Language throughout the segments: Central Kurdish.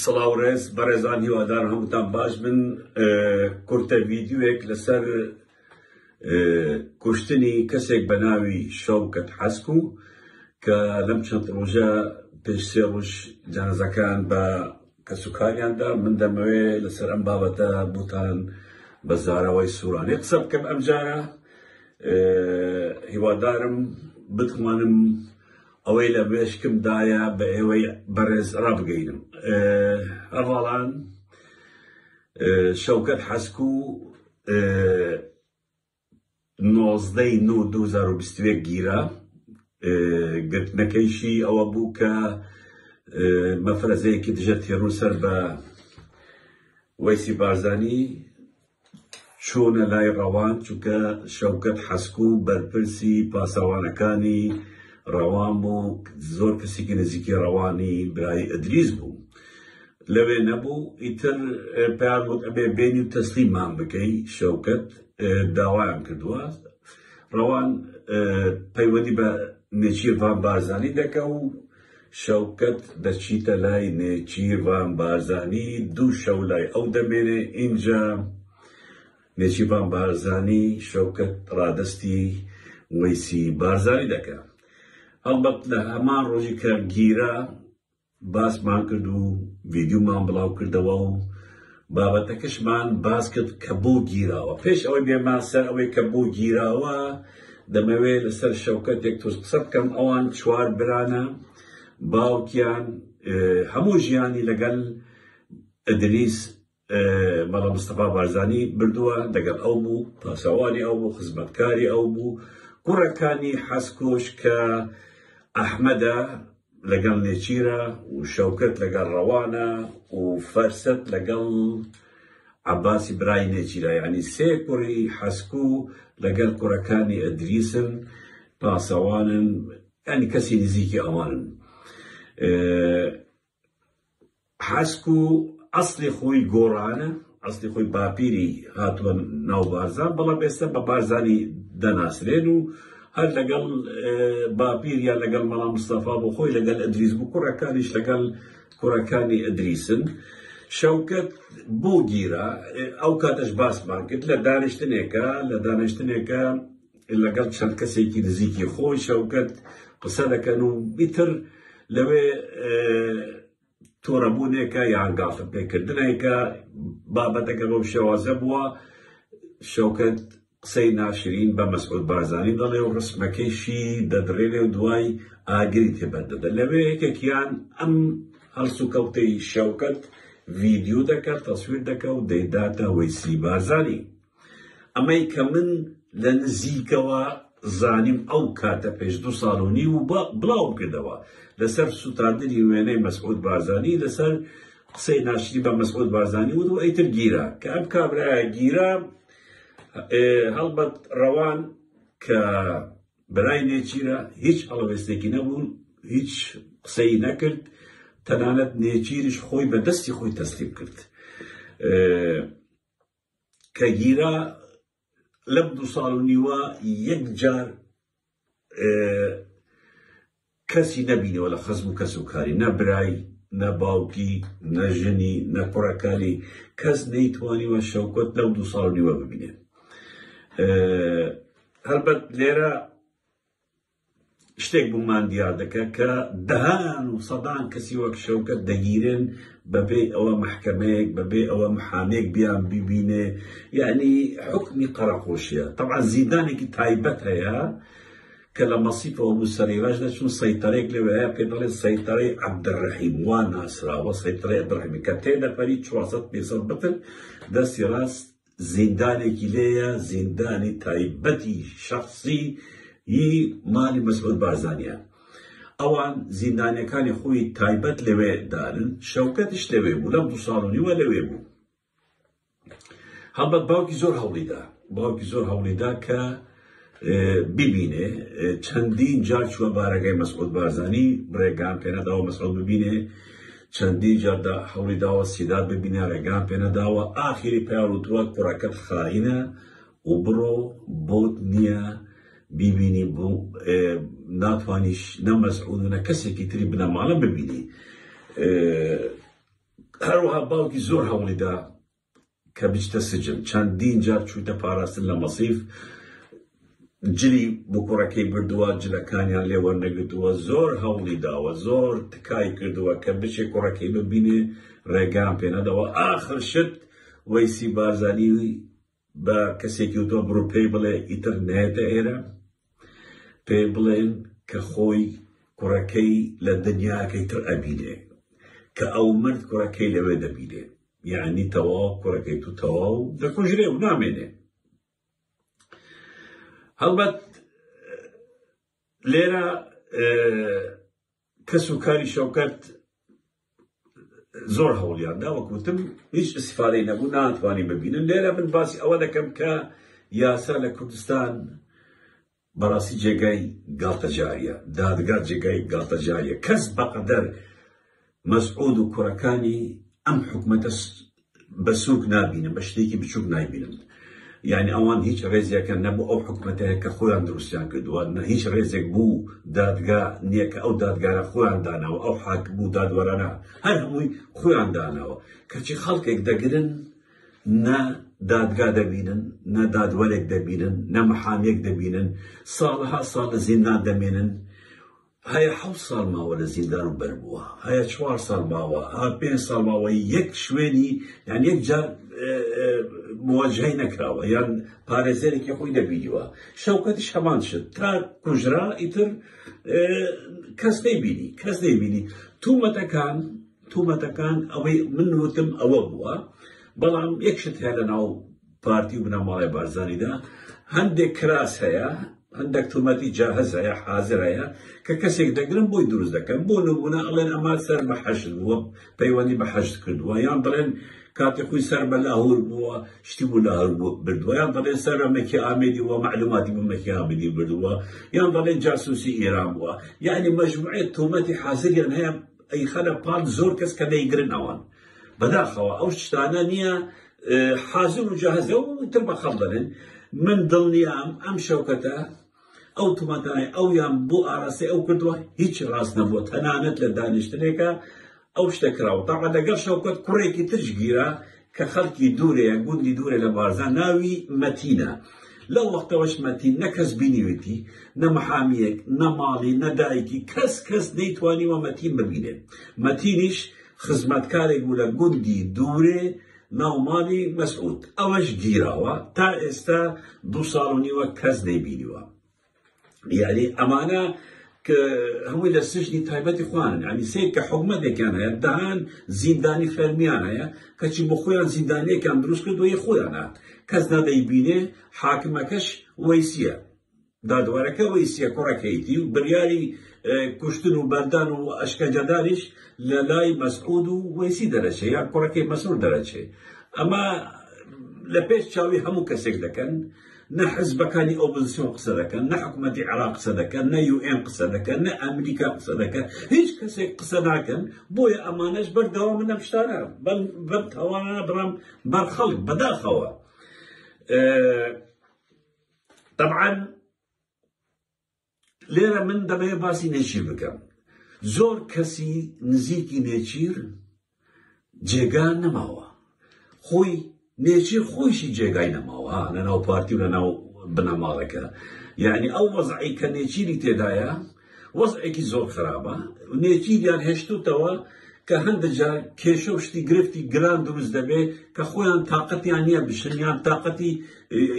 سڵاو ڕێز بەڕێزان هیوادار هەمووتان باش بن کورتە ویددیوێک لەسەر کوشتنی کەسێک بە ناوی شەوکەت حەسک و کە لەم چەند ڕۆژە پێش سێ ڕۆژ جانزەکان بە کەسوکاریاندا، من دەمەوێ لەسەر ئەم بابەتە بۆتان بە زاراوەی سورانی قسە بکەم ئەمجارە، هیوادارم بتوانم ئەوەی لە مێشکمدایە بە ئێوەی بەڕێز ڕابگەینم. هەڤاڵان شەوکەت حەسکوو نۆزدە ی نۆ دوو هەزار و بیست و یەک گیرا، گرتنەکەیشی ئەوە بوو کە مەفرەزەیەکی دژە تێرۆر سەر بە وەیسی بارزانی چوونە لای ڕەوان، چونکە شەوکەت حەسکو بەرپرسی پاسەوانەکانی ڕەوان بوو، زۆر کەسێکی نزیکی ڕەوانی برای ئیدریس بوو. لەوێ نەبوو ئیتر پێیان وت ئەبێ بێنی و تەسلیمان بکەی شەوکەت داوایان کردووە ڕەوان پەیوەندی بە نێچیرڤان بارزانی دەکە و شەوکەت دەچیتە لای نێچیرڤان بارزانی دوو شەو لای ئەو دەمێنێ ئینجا نێچیرڤان بارزانی شەوکەت ڕادستی وەیسی بارزانی دەکە هەڵبەت لە هەمان ڕۆژی کە گیرە باسمان کرد و ڤیدیومان بڵاو کردەوە و بابەتەکەشمان باس کرد کە بۆ گیراوە پێش ئەوەی بێمان سەر ئەوەی کە بۆ گیراوە دەمەوێت لەسەر شەوکەتێک تۆز قسە بکەم ئەوان چوار برانە باوکیان هەموو ژیانی لەگەل ئەدریس مەلا مستەفا بارزانی بردووە دەگەڵ ئەو بوو پاسەوانی ئەو بوو خزمەتکاری ئەو بوو کوڕەکانی حەسکۆش کە ئەحمەدە لەگەڵ نێچیرە و شەوکەت لەگەڵ ڕەوانە و فەرسەت لەگەڵ عباسی برای نێچیرا ینی سێ کوڕی حەسکو لەگەل کوڕەکانی ئەدریسن پاسەوانن ئەنی کەسی نزیکی ئەوانن حەسک و ئەسڵی خۆی گۆڕانە، ئەسڵی خۆی باپیری هاتووە ناو بارزان، بەڵام ئێستا بە بارزانی دەناسرێن و هەر لەگەڵ باپیر یان لەگەڵ مەڵا مستەفا بۆ خۆی لەگەل ئەدریس بوو، کوڕەکانیش لەگەڵ کوڕەکانی ئەدریسن. شەوکەت بۆ گیرا ئەو کاتەش باسمان کرد لە دانیشتنێکە لە دانیشتنێکە لەگەڵ چەند کەسێکی نزیکی خۆی شەوکەت قسە دەکەن و بیتر لەوێ تۆرەبوونێکە یان گاڵتەپێکردنێکە بابەتەکە بەم شێوازە بووە شەوکەت قسەی ناشرین بە مەسعود بارزانی دەڵێ و ڕسمەکەیشی دەدڕێنێ و دوای ئاگری تێبەردەدە لەوێ یەکێکیان ئەم هەڵسو کەوتەی شەوکەت ڤیددیو دەکات تەسویر دەکە و دەیداتە وەیسی بارزانی ئەمەی کە من لە نزیکەوە زانیم ئەو کاتە پێش دوو ساڵ و نیو و بڵاوم کردەوە لەسەر سووتاندنی وێنەی مەسعود بارزانی لەسەر قسەی ناشری بە مەسعود بارزانی وت و ئەیتر گیرا کە ئەم کابرایە گیرا هەڵبەت ڕەوان کە برای نێچیرە هیچ هەڵوێستێکی نەبوون هیچ قسەی نەکرد تەنانەت نێچیریش خۆی بە دەستی خۆی تەسلیم کرد کە گیرا لەم دوو ساڵ و نیوە یەک جار کەسی نەبینەوە لە خەزم و کەس و کاری نە برای نە باوکی نە ژنی نە کوڕەکانی کەس نەیتوانیوە شەوکۆت لەو دوو ساڵ نیوە ببینێت هەربەت لێرە شتێک بۆمان دیار دەکە کە دەهان و سەدان کەسی وەک شەوکەت دەگیرێن بەبێ ئەوە مححکەمەیەک بەبێ ئەوە محامێک بیان ببینێ یعنی حکمی قەرەقۆشیە طبعا زیندانێکی تایبەت هەیە کە لە مەسیفەوە بوو سەرێواش دەچون سەیتەرێک لەوێ پێ دەڵێ سەیتەرەی عبدڕحیم وا ناسراوە سەیتەرەی عبدڕحیمی کە تێ دەپەری 400 پێ بتر دەستی ڕاست زیندانێکی لێیە زیندانی تایبەتی شخصی ی مالی مەسعود بارزانیان ئەوان زیندانەکانی خۆی تایبەت لەوێ دارن شەوکەتش لەوێ بوو لەم دوو ساڵ و نیوە لەوێ بوو هەڵبەت باوکی زۆر هەوڵیدا باوکی زۆر هەوڵیدا کە ببینێ چەندین جار چوە بارەگای مەسعود بارزانی ڕێگان پێنەداوە مەسعود ببینێ چەندین جاردا هەوڵی داوە سیداد ببینە ڕێگان پێنەداوە ئاخیری پیاوتووە کوڕەکەت خائینە و بڕۆ بۆت نییە بیبینی بۆ ناتوانیش نە مەسعود و نە کەسێکی تری بنەماڵە ببینی هەروەها باوکی زۆر هەوڵیدا کە بچتە سجن چەندین جار چوویتە پاراستن لە مەسیف جلی بۆ کوڕەکەی بردووە جلەکانیان لێ وەرنەگرتووە زۆر هەوڵی داوە زۆر تکای کردووە کە بچێ کوڕەکەی ببینێ ڕێگان پێنەدەوە ئاخر شت وەیسی بارزانی بە کەسێکی وتۆ بڕوپێی بڵێ ئیتر نێتە ئێرە پێی بڵێن کە خۆی کوڕەکەی لە دنیاکەی تر ئەبینێ کە ئەو مرد کوڕەکەی لەوێ دەبینێ یعنی تەواو کوڕەکەی تو تەواو دەکوژرێ و نامێنێ هەڵبەت لێرە کەس و کاری شەوکەت زۆر هەوڵیان دا وەکوتم هیچ استفادەی نەبوو ناتوانانی ببینن لێرە من باسی ئەوە دەکەم کە یاسا لە کوردستان بەڕاستی جێگای گاڵتەجاریە دادگا جێگای گاڵتەجاریە کەس بەقەدەر مەسعود و کوڕەکانی ئەم حکومەتە بە سوک نابینم بە شتێکی بچوک نایبینم یعنی ئەوان هیچ ڕێزیەکە نە بۆ ئەو حکوومەتەیە کە خۆیان دروستیان کردووە نە هیچ ڕێزێک بوو دادگا نییە کە ئەو دادگارە خۆیان داناوە ئەو حاک بوو دادوەرانە هەر هەمووی خۆیان داناوە کەچی خەڵکێک دەگرن نە دادگا دەبینن نە دادوەرێک دەبینن نە محامێک دەبینن ساڵها ساڵ لە زیندان دەمێنن هەیە حەوت ساڵ ماوە لە زیندان و بەر بووە هەیە چوار ساڵ ماوە ها پێنج ساڵ ماوە یەک شوێنی یان یەک جار مواجهەی نەکراوە یان پارێزەرێکی خۆی دەبینیوە شەوکەتیش هەمان شت تا کوژرا ئیتر کەس نەیبینی کەس نەیبینی تومەتەکان تومەتەکان ئەوەی من وتم ئەوە بووە بەڵام یەکشت هەیە لە ناو پارتی و بنەماڵەی بارزانیدا هەندێک کراس هەیە هەندێک تومەتی جاهز هەیە حاضر هەیە کە کەسێک دەگرن بۆی دروست دەکەن بۆ نمونە ئەڵێن ئەمە سەر بە حەشت بووە پەیوەندی بە حەشت کردووە یان دەڵێن کاتی خۆی سەر بە لاهور بووە شتی بوو لاهور بوو بردووە یان دەڵێن سەر بە مەکی ئامێدی وە معلوماتی بوو مەکی ئامێدی بردووە یان دەڵێن جاسوسی ئێران بووە یعنی مەجموعەت تومەتی حاضریان هەیە ئەی خەلە پان زۆر کەس کە دەیگرن ئەوان بەداخەوە ئەو شتانە نییە حازم و جەهەزە و تر بە خەڵ دەبن من دڵنیام ئەم شەوکەتە ئەو تومەتانای ئەو یان بۆ ئاراسی ئەو کردووە هیچ ڕاست نەبووە تەنانەت لە دانیشتنێکە ئەو شتە کراوە تاقە دەگەڵ شەوکەت کوڕێکی ترش گیرە کە خەڵکی دوورێ گوندی دوورێ لە بارزان ناوی مەتینە لەو وەختەوەش مەتین نە کەس بینیوێتی نە محامیەک نە ماڵی نە دایکی کەس کەس نەیتوانی وە مەتین ببینێت مەتینیش خزمەتکارێک بوو لە گوندی دوورێ ناو ماڵی مەسعود ئەوەش گیراوە تا ئێستا دوو ساڵ و نیوە کەس نەیبینیوە یاری ئەمانە کە هەمووی لە سژنی تایبەتی خوان ینی سێ کە حکومەتێکیان هەیە دەهان زیندانی فەرمیان هەیە کەچی بۆ خۆیان زیندانیەکان دروست کردوەی خۆیانە کەس نادەی بینێ حاکمەکەش وەیسیە دادوەرەکە وی سێ کوڕە کەیتی و بریاری کوشتن و بەردان و ئەشکەجەدانیش لە لای مەسعود و وەیسی دەرەچێ یا کوڕەکەی مەسرور دەرەچێ ئەمە لە پێش چاوی هەموو کەسێک دەکەن نە حزبەکانی ئۆپزسیۆن قسە دەکەن نە حکوومەتی عراق قسە دەکەن نە یوئێن قسە دەکەن نە ئەمریکا قسە دەکەن هیچ کەسێک قسە ناکەن بۆیە ئەمانەش بەردەوام منە شتانە بەم تاوانانە بڕام بەرخەڵک بەداخەوە طبعاً لێرە من دەبێ باسی نێچیر بکەم زۆر کەسی نزیکی نێچیر جێگا نەماوە خۆی نێچیر خۆیشی جێگای نەماوە لەناو پارتی و لەناو بنەماڵەکە یعنی ئەو وەزعی کە نێچیری تێدایە وەزعێکی زۆر خراپە، نێچیریان هێشتووتەوە کە هەندێک جار کێشە و شتی گرفتی گران دروست دەبێت کە خۆیان تااقەتیان نییە بشن یان تااقەتی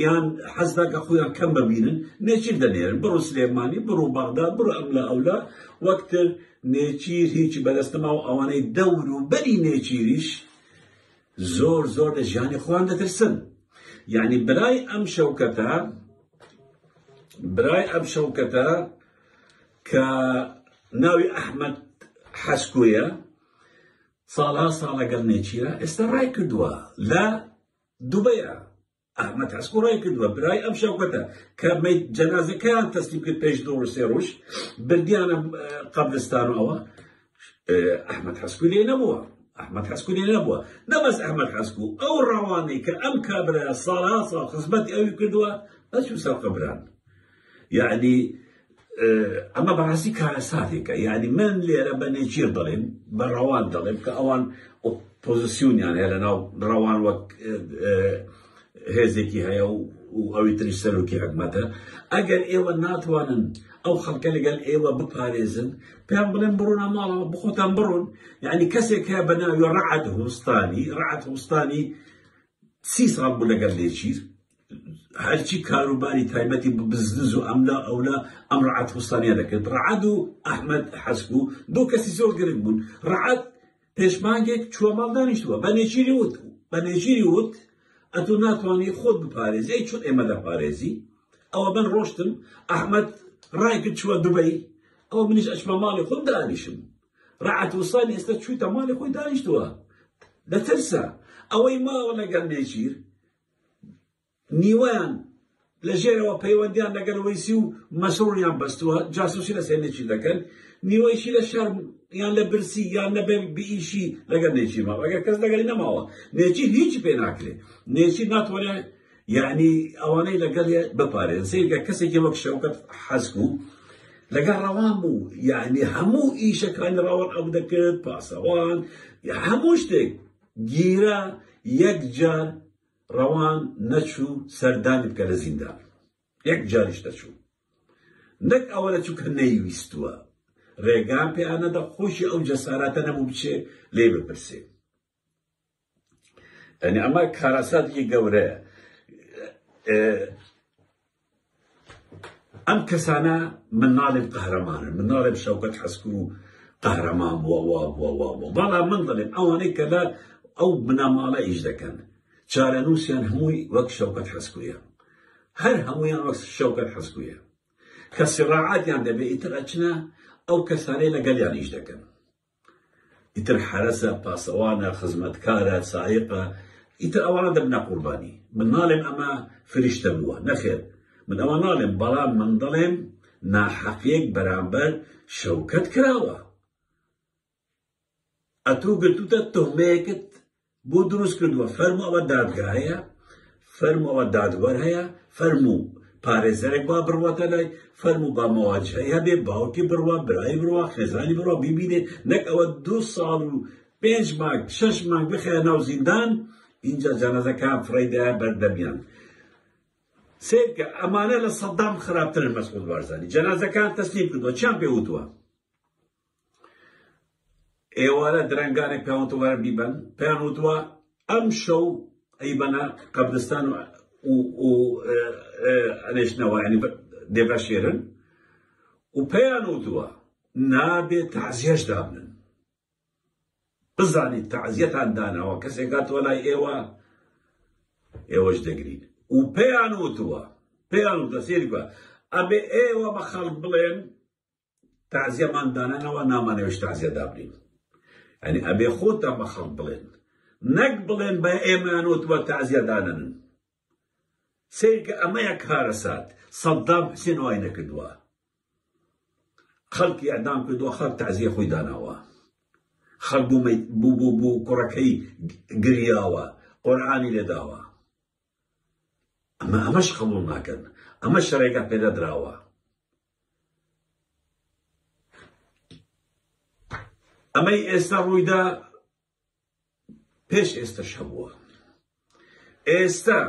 یان حەزدا کە خۆیان کەم ببینن نێچیر دەنێرن بڕۆ سلێمانی بڕۆ بەغدا بڕۆ ئەم لە ئەولا وەکتر نێچیر هیچی بەدەستەما و ئەوانەی دەور و بەری نێچیریش زۆر زۆر لە ژیانی خۆیان دەترسن یعنی برای ئەم شەوکەتە برای ئەم شەوکەتە کە ناوی ئەحمد حەسکویە ساڵها ساڵەگەڵ نێچیرە ئێستا ڕای کردووە لە دوبەیە ئەحمەد هەسکو ڕای کردووە برای ئەم شەوکەتە کە مەیت جەنازەکەیان تەسلیم کرد پێش دوو ڕۆژ سێ ڕۆژ بردیانە قەبرستان و ئەوە ئەحمەد هەسکو لێ نەبووە ئەحمەد هەسکو لێ نەبووە نەبەس ئەحمەد هەسکو ئەو ڕەوانەی کە ئەم کابرا ساڵها ساڵ خزمەتی ئەوی کردووە ئەچوو سەر قەبران یعنی ئەمە بەڕاستی کارەساتێکە یعنی من لێرە بە نێچیر دەڵێن بە ڕەوان دەڵێن کە ئەوان ئۆپۆزیسیونیان هەیە لە ناو ڕەوان وەک هێزێکی هەیە و و ئەوی تری سەرۆکی حکومەتە ئەگەر ئێوە ناتوانن ئەو خەڵکە لەگەل ئێوە بپارێزن پێیان بڵێن بڕۆنە ماڵەوە بخۆتان بڕۆن یعنی کەسێک هەیە بە ناوی ڕعد هوستانی ڕعد هوستانی سی ساڵ بوو لەگەل لێچیر هەرچی کاروباری تایبەتی بە بزنس و ئەملا ئەولا ئەم ڕعات وستانیا دەکرد ڕعاد و ئەحمد حەسک و دو کەسی زۆر گرنگ بوون ڕعات پێشمانگێک چوە ماڵ دانیشتووە بە نێچیری وت بە نێچیری وت ئەتو ناتوانانی خۆت بپارێزی ئەی چۆن ئێمە دەپارێزی ئەوە بن ڕۆشتم ئەحمد ڕایکرد چوە دوبەی ئەو منیش ئەچمە ماڵی خۆم دانیشم ڕعات وسانی ئێستا چوویتە ماڵی خۆی دانیشتووە دەترسە ئەوەی ماوە لەگەڵ نێچیر نیوەیان لە ژێرەوە پەیوەندیان لەگەل وەیسی و مەسرونیان بەستووە جاسوسی لە سێنێکی دەکەن نیوەیشی لە شەرم یان لە برسی یان لە بئیشی لەگەر نێچی ماوە ئەگەر کەس لەگەری نەماوە نێچی هیچی پێ ناکرێ نێچی ناتوانێت یعنی ئەوانەی لەگەڵ بپارێن سیرگە کەسێکی وەک شەوکەت حەزک و لەگەڵ ڕەوان بوو یعنی هەموو ئیشەکانی ڕەوان ئەو دەکرد پاسەوان هەموو شتێک گیرا یەک جار ڕەوان نەچوو سەردانی بکە لە زیندان یەک جاریش دەچوو نەک ئەوە لە چووکە نەیویستووە ڕێگان پێ ئەنەدە خۆشی ئەو جەساراتە نەبوو بچێ لێ بپرسێ ئەنی ئەمە کارەساتێکی گەورەیە ئەم کەسانە من ناڵێم قەهرەمانە من ناڵێم شەوکەت حەسکو و قەهرەمان بووە وا بووە وا بووە بەڵا من دەڵێم ئەوانەی کە لە ئەو بناماڵە ئیش دەکەن چارەنووسیان هەمووی وەک شەوکەت حەسکویە هەر هەمویان وەک شەوکەت حەسکویە کە سڕاعاتیان دەبێت ئیتر ئەچنە ئەو کەسانەی لەگەڵیان ئیش دەکەن ئیتر حەرەسە، پاسەوانە، خزمەتکارە، سایقە، ئیتر ئەوانە دەبنە قوربانی. من ناڵێم ئەمە فریشتە بووە، نەخێر، من ئەوە ناڵێم، بەڵام من دەڵێم ناحەقیەک بەرامبەر شەوکەت کراوە. ئەتوو گرتووتە توهمەیەکت بۆ دروست کردووە فەرموو ئەوە دادگا هەیە فەرموو ئەوە دادوەر هەیە فەرموو پارێزەرێک با بڕواتە لای فەرموو با مەواجهەی هەبێ باوکی بڕوا برای بڕوا خێزانی بڕوا بیبینێ نەک ئەوە دو ساڵ و پێنج مانگ شەش مانگ بخێ ناو زیندان اینجا جەنازەکان فڕیدا بەردەمیان سێکە ئەمانە لە سەدام خراپترن مەسعود بارزانی جەنازەکان تەسلیم کردووە چیان پێ وتووە ئێوارە درەنگانێک پێوان تۆبارە بیبەن پێیان وتوە ئەم شەو ئەیبەنە قەبرستان و ئەنێشتنەوە ینی دێبە شێرن و پێیان وتوە نابێت تازیێش دابنن بزانیت تازیەتان داناوە کەسێکات تۆ لای ئێوە ئێوەش دەگرین و پێیان وتوە پێیان وتە سێری بە ئەبێ ئێوە بە خەڵک بڵێن تازیەمان دانانەوە نامانەوێش تازیە دابنین ئەنی ئەبێ خۆتان بە خەڵک بڵێن نەک بڵێن بە ئێمانوت وە تازیە دانن سیرکە ئەمەیە کارەسات سەددام حسێن وای نەکردووە خەڵکی ئەدام کردووە خەڵک تازیە خۆی داناوە خەڵ بوو بوو بوو کوڕەکەی گریاوە قۆرعانی لێداوە ئەمە ئەمەش قبول ناکەن ئەمە شەڕێکە پێدەدراوە ئەمەی ئێستا ڕوویدا پێش ئێستا شەبووە ئێستا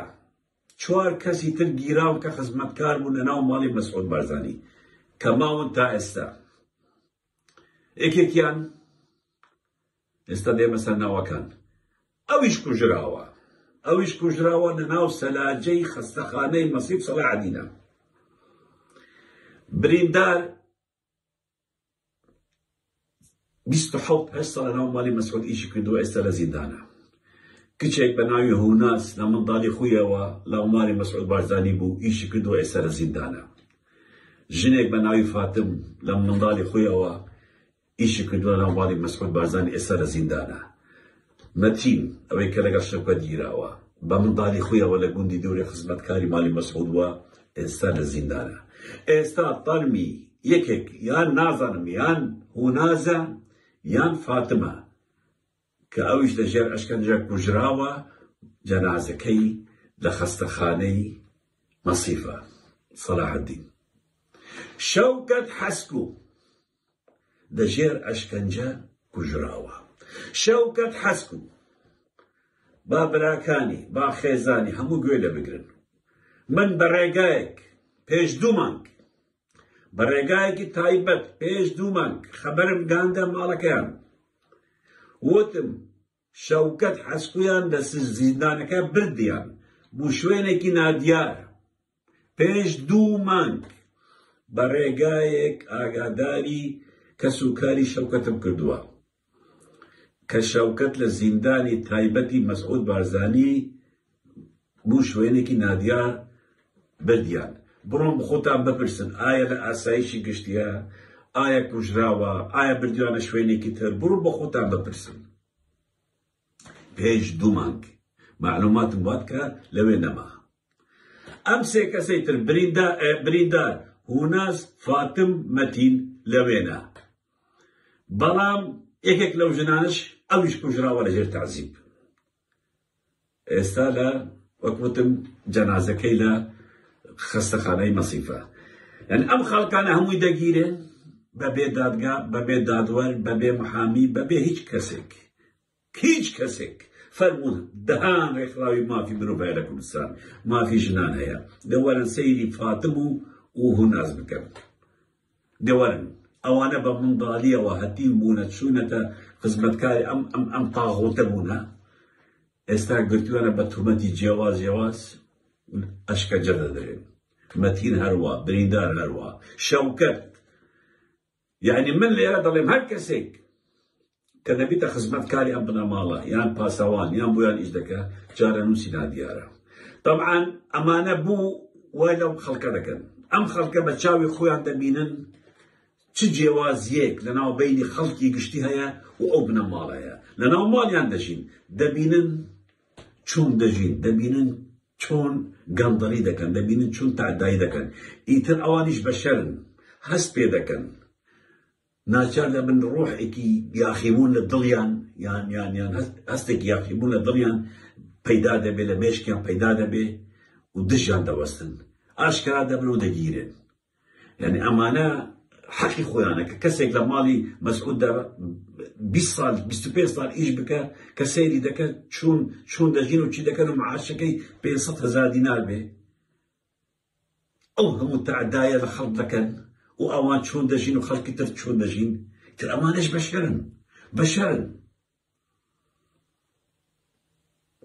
چوار کەسی تر گیراون کە خزمەتکار بوون لە ناو ماڵی مەسعود بارزانی کە ماون تا ئێستا یەکێکیان ئێستا دێمە سەر ناوەکان. ئەویش کوژراوە. ئەویش کوژراوە لە ناو سەلاجەی خەستەخانەی مەسیب سەڵاحەدینە. بریندار بیست و حەوت هەشت ساڵ لە ناو ماڵی مەسعود ئیشی کردووە ئێستا لە زیندانە. کچێک بە ناوی هوناس لە منداڵی خویەوە لە ماڵی مەسعود بارزانی بوو ئیشی کردووە ئێستا لە زیندانە. ژنێک بە ناوی فاتم لە منداڵی خویەوە ئیشی کردوە ناو ماڵی مەسعود بارزانی ئێستا لە زیندانە مەتین ئەوەی کە لەگەڵ شەفقەت گیراوە بە منداڵی خۆیەوە لە گوندی دەوری خزمەتکاری ماڵی مەسعود بووە ئێستا لە زیندانە ئێستا تەرمی یەکێک یان نازانم یان هونازە یان فاتمە کە ئەویش لە ژێر ئەشکەنجە کوژراوە جەنازەکەی لە خەستەخانەی مەسیفە سەلاحدین شەوکەت حەسکو لەژێر ئەشکەنجە کوژراوە. شەوکەت حەسک و با براکانی، با خێزانی هەموو گوێ لێ بگرن. من بە ڕێگایەک پێش دوو مانگ، بە ڕێگایەکی تایبەت پێش دوو مانگ خەبەرم گەیاندە ماڵەکەیان. وتم شەوکەت حەسکویان لە زیندانەکە بردیان بو شوێنێکی نادیار پێش دو مانگ بە رێگایەک ئاگاداری کەس و کاری شەوکەتم کردوە کە شەوکەت لە زیندانی تایبەتی مەسعود بارزانی بوو شوێنێکی نادیار بردیان. بڕۆن بخۆتان بپرسن ئایا لە ئاسایشی گشتیە؟ ئایا کوژراوە؟ ئایا بردویانە شوێنێکی تر؟ بڕۆن بەخۆتان بپرسن. پێش دوو مانگ معلوماتم بوات کە لەوێ نەما. ئەم سێ کەسەی تر بریندار هوناس فاتم مەتین لەوێنا بەڵام یەکێک لەو ژنانش ئەویش کوژراوە لەژێر تازیب. ئێستا لە وەک وتم جەنازەکەی لە خەستەخانەی مەسیفە یعنی ئەم خەڵکانە هەمووی دەگیرێ بەبێ دادگا بەبێ دادوەر بەبێ محامی بەبێ هیچ کەسێک هیچ کەسێک فەرموون دەهان ڕێکخراوی مافی مرۆڤ هەیە لە کوردستان مافی ژنان هەیە دەوەرن سەیری فاتم و و هوناز بکەن دەوەرن ئەوانە بە مندالیەوە هەتیو بوونە چوونەتە خزمەتکاری ئەم ئەم ئەم تاغوتە بوونە ئێستا گرتووەە بە تومەتی جیاواز جیاواز ئەشکەجە دەدرێن مەتین هەروە بریندار هەروە شەوکەت یعنی من لێرە دەڵێم هەر کەسێک کە دەبیتە خزمەت کاری ئەم بنەماڵە یان پاسەوان یان بۆیان ئیش دەکە چارەنووسی نادیارە تەبعان ئەمانە بوو وای لەم خەڵکە دەکەن ئەم خەڵکە بە چاوی خۆیان دەبینن چ جێوازیەک لەناو بینی خەڵکی گشتی هەیە و ئەو بنەماڵەیە لەناو ماڵیان دەژین دەبینن چۆن دەژین دەبینن چۆن گەندەڵی دەکەن دەبینن چون تادایی دەکەن ئیتر ئەوانیش بەشەرن هەست پێ دەکەن ناچار دەبن ڕۆحێکی یاخیبوون لە دڵیان یان یان یان هەستێکی یاخیبوون لە دڵیان پەیدا دەبێ لە مێشکیان پەیدا دەبێ و دژیان دەوەستن ئاشکرا دەبن و دەگیرێن یعنی ئەمانە حەقی خۆیانە کە کەسێک لە ماڵی مەسعوددا 20 سال 25 سال ئیش بکە کە سەیری دەکەن چون چون دەژین و چی دەکەن و معاشەکەی 500 هزار دینار بێ ئەو هەموو تەعدایە لە خەڵک دەکەن و ئەوان چۆن دەژین و خەڵکی تر چۆن دەژین تر ئەمانش بەشەرن بەشەرن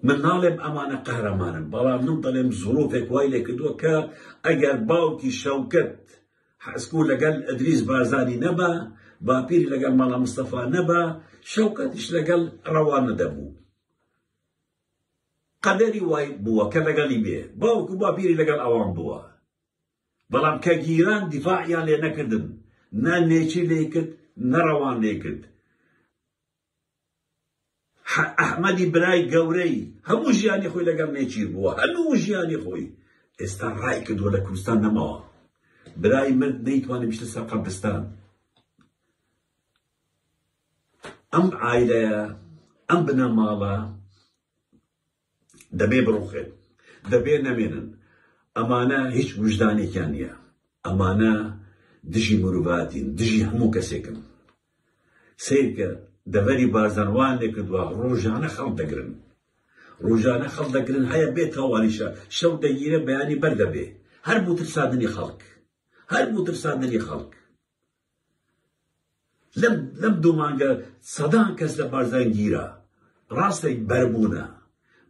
من ناڵێم ئەمانە قەهرەمانن بەڵام من دەڵێم زۆرۆفێک وای لێکردووە کە ئەگەر باوکی شەوکەت حەسکو لەگەل ئەدریس بارزانی نەبا باپیر لەگەل مەڵا مستەفا نەبا شەوکەتیش لەگەل ڕەوانە دەبوو قەدەری وای بووە کە لەگەڵی بێ باوک و باپیری لەگەڵ ئەوان بووە بەڵام کە گیران دیفاعیان لێ نەکردن نە نێچی لێ کرد نەڕەوان لێ کرد ئەحمەدی برای گەورەی هەموو ژیانی خۆی لەگەڵ نێچیر بووە هەموو ژیانی خۆی ئێستا ڕای کردووە لە کوردستان نەماوە برای مرد نەیتوانێت بشتە سەر قەبرستان ئەم عایلەیە ئەم بنەماڵە دەبێ بڕوخێت دەبێ نەمێنن ئەمانە هیچ وژدانێکیان نییە ئەمانە دژی مرۆڤاتین دژی هەموو کەسێکن سیرکە دەبەری بازەنوان لێکردووە ڕۆژانە خەڵ دەگرن ڕۆژانە خەڵ دەگرن هەیە بێت تاوانیشە شەو دەگیرە بەیانی بەردەبێ هەر بوو ترسادنی خەڵک هەر بوو ترسادنی خەڵک لەم لەم دوو مانگە سەدان کەس لە بارزان گیرا ڕاستە بەربوونە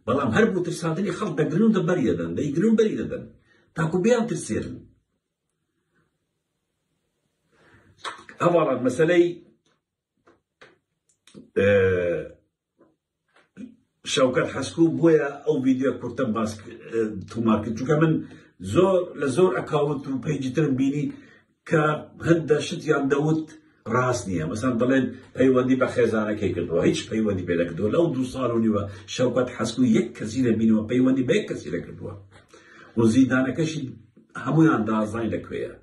بەڵام هەر بۆ ترساندنی خەڵک دەگرن و دەبەری دەدەن دەیگرن و بەری دەدەن تاکو بیان ترسێرن ئەوەڵات مەسلەی شەوکەت حەسکو بۆیە ئەو ڤیدیۆ کورتە باس تۆمار کرد چونکە من زۆر لە زۆر ئەکاونت و پەیجی ترم بینی کە هەندە شتیان دەوت ڕاست نییە مەسەن دەڵێن پەیوەندی بە خێزانەکەی کردەوە هیچ پەیوەندی پێ نەکردووە لەو دوو ساڵ و نیوە شەوکەت حەسکو یەک کەسی نەبینەوە پەیوەندی بە یەک کەسی نەکردووە و زیندانەکەشی هەمویان دازای لە کوێیە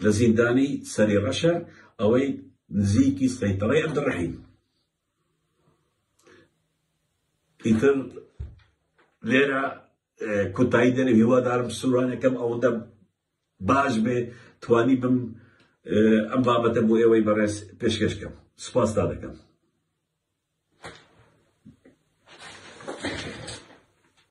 لە زیندانی سەری ڕەشە ئەوەی نزیکی سەیتەڕی عەبدڕەحیم ئیتر لێرە کوتایی دەرێ هیوادارم سوورانەکەم ئەوەندە باش بێ توانی بم ئەم بابەتە بۆ ئێوەی بەڕێز پێشکەشکەم سپاستا دەکەم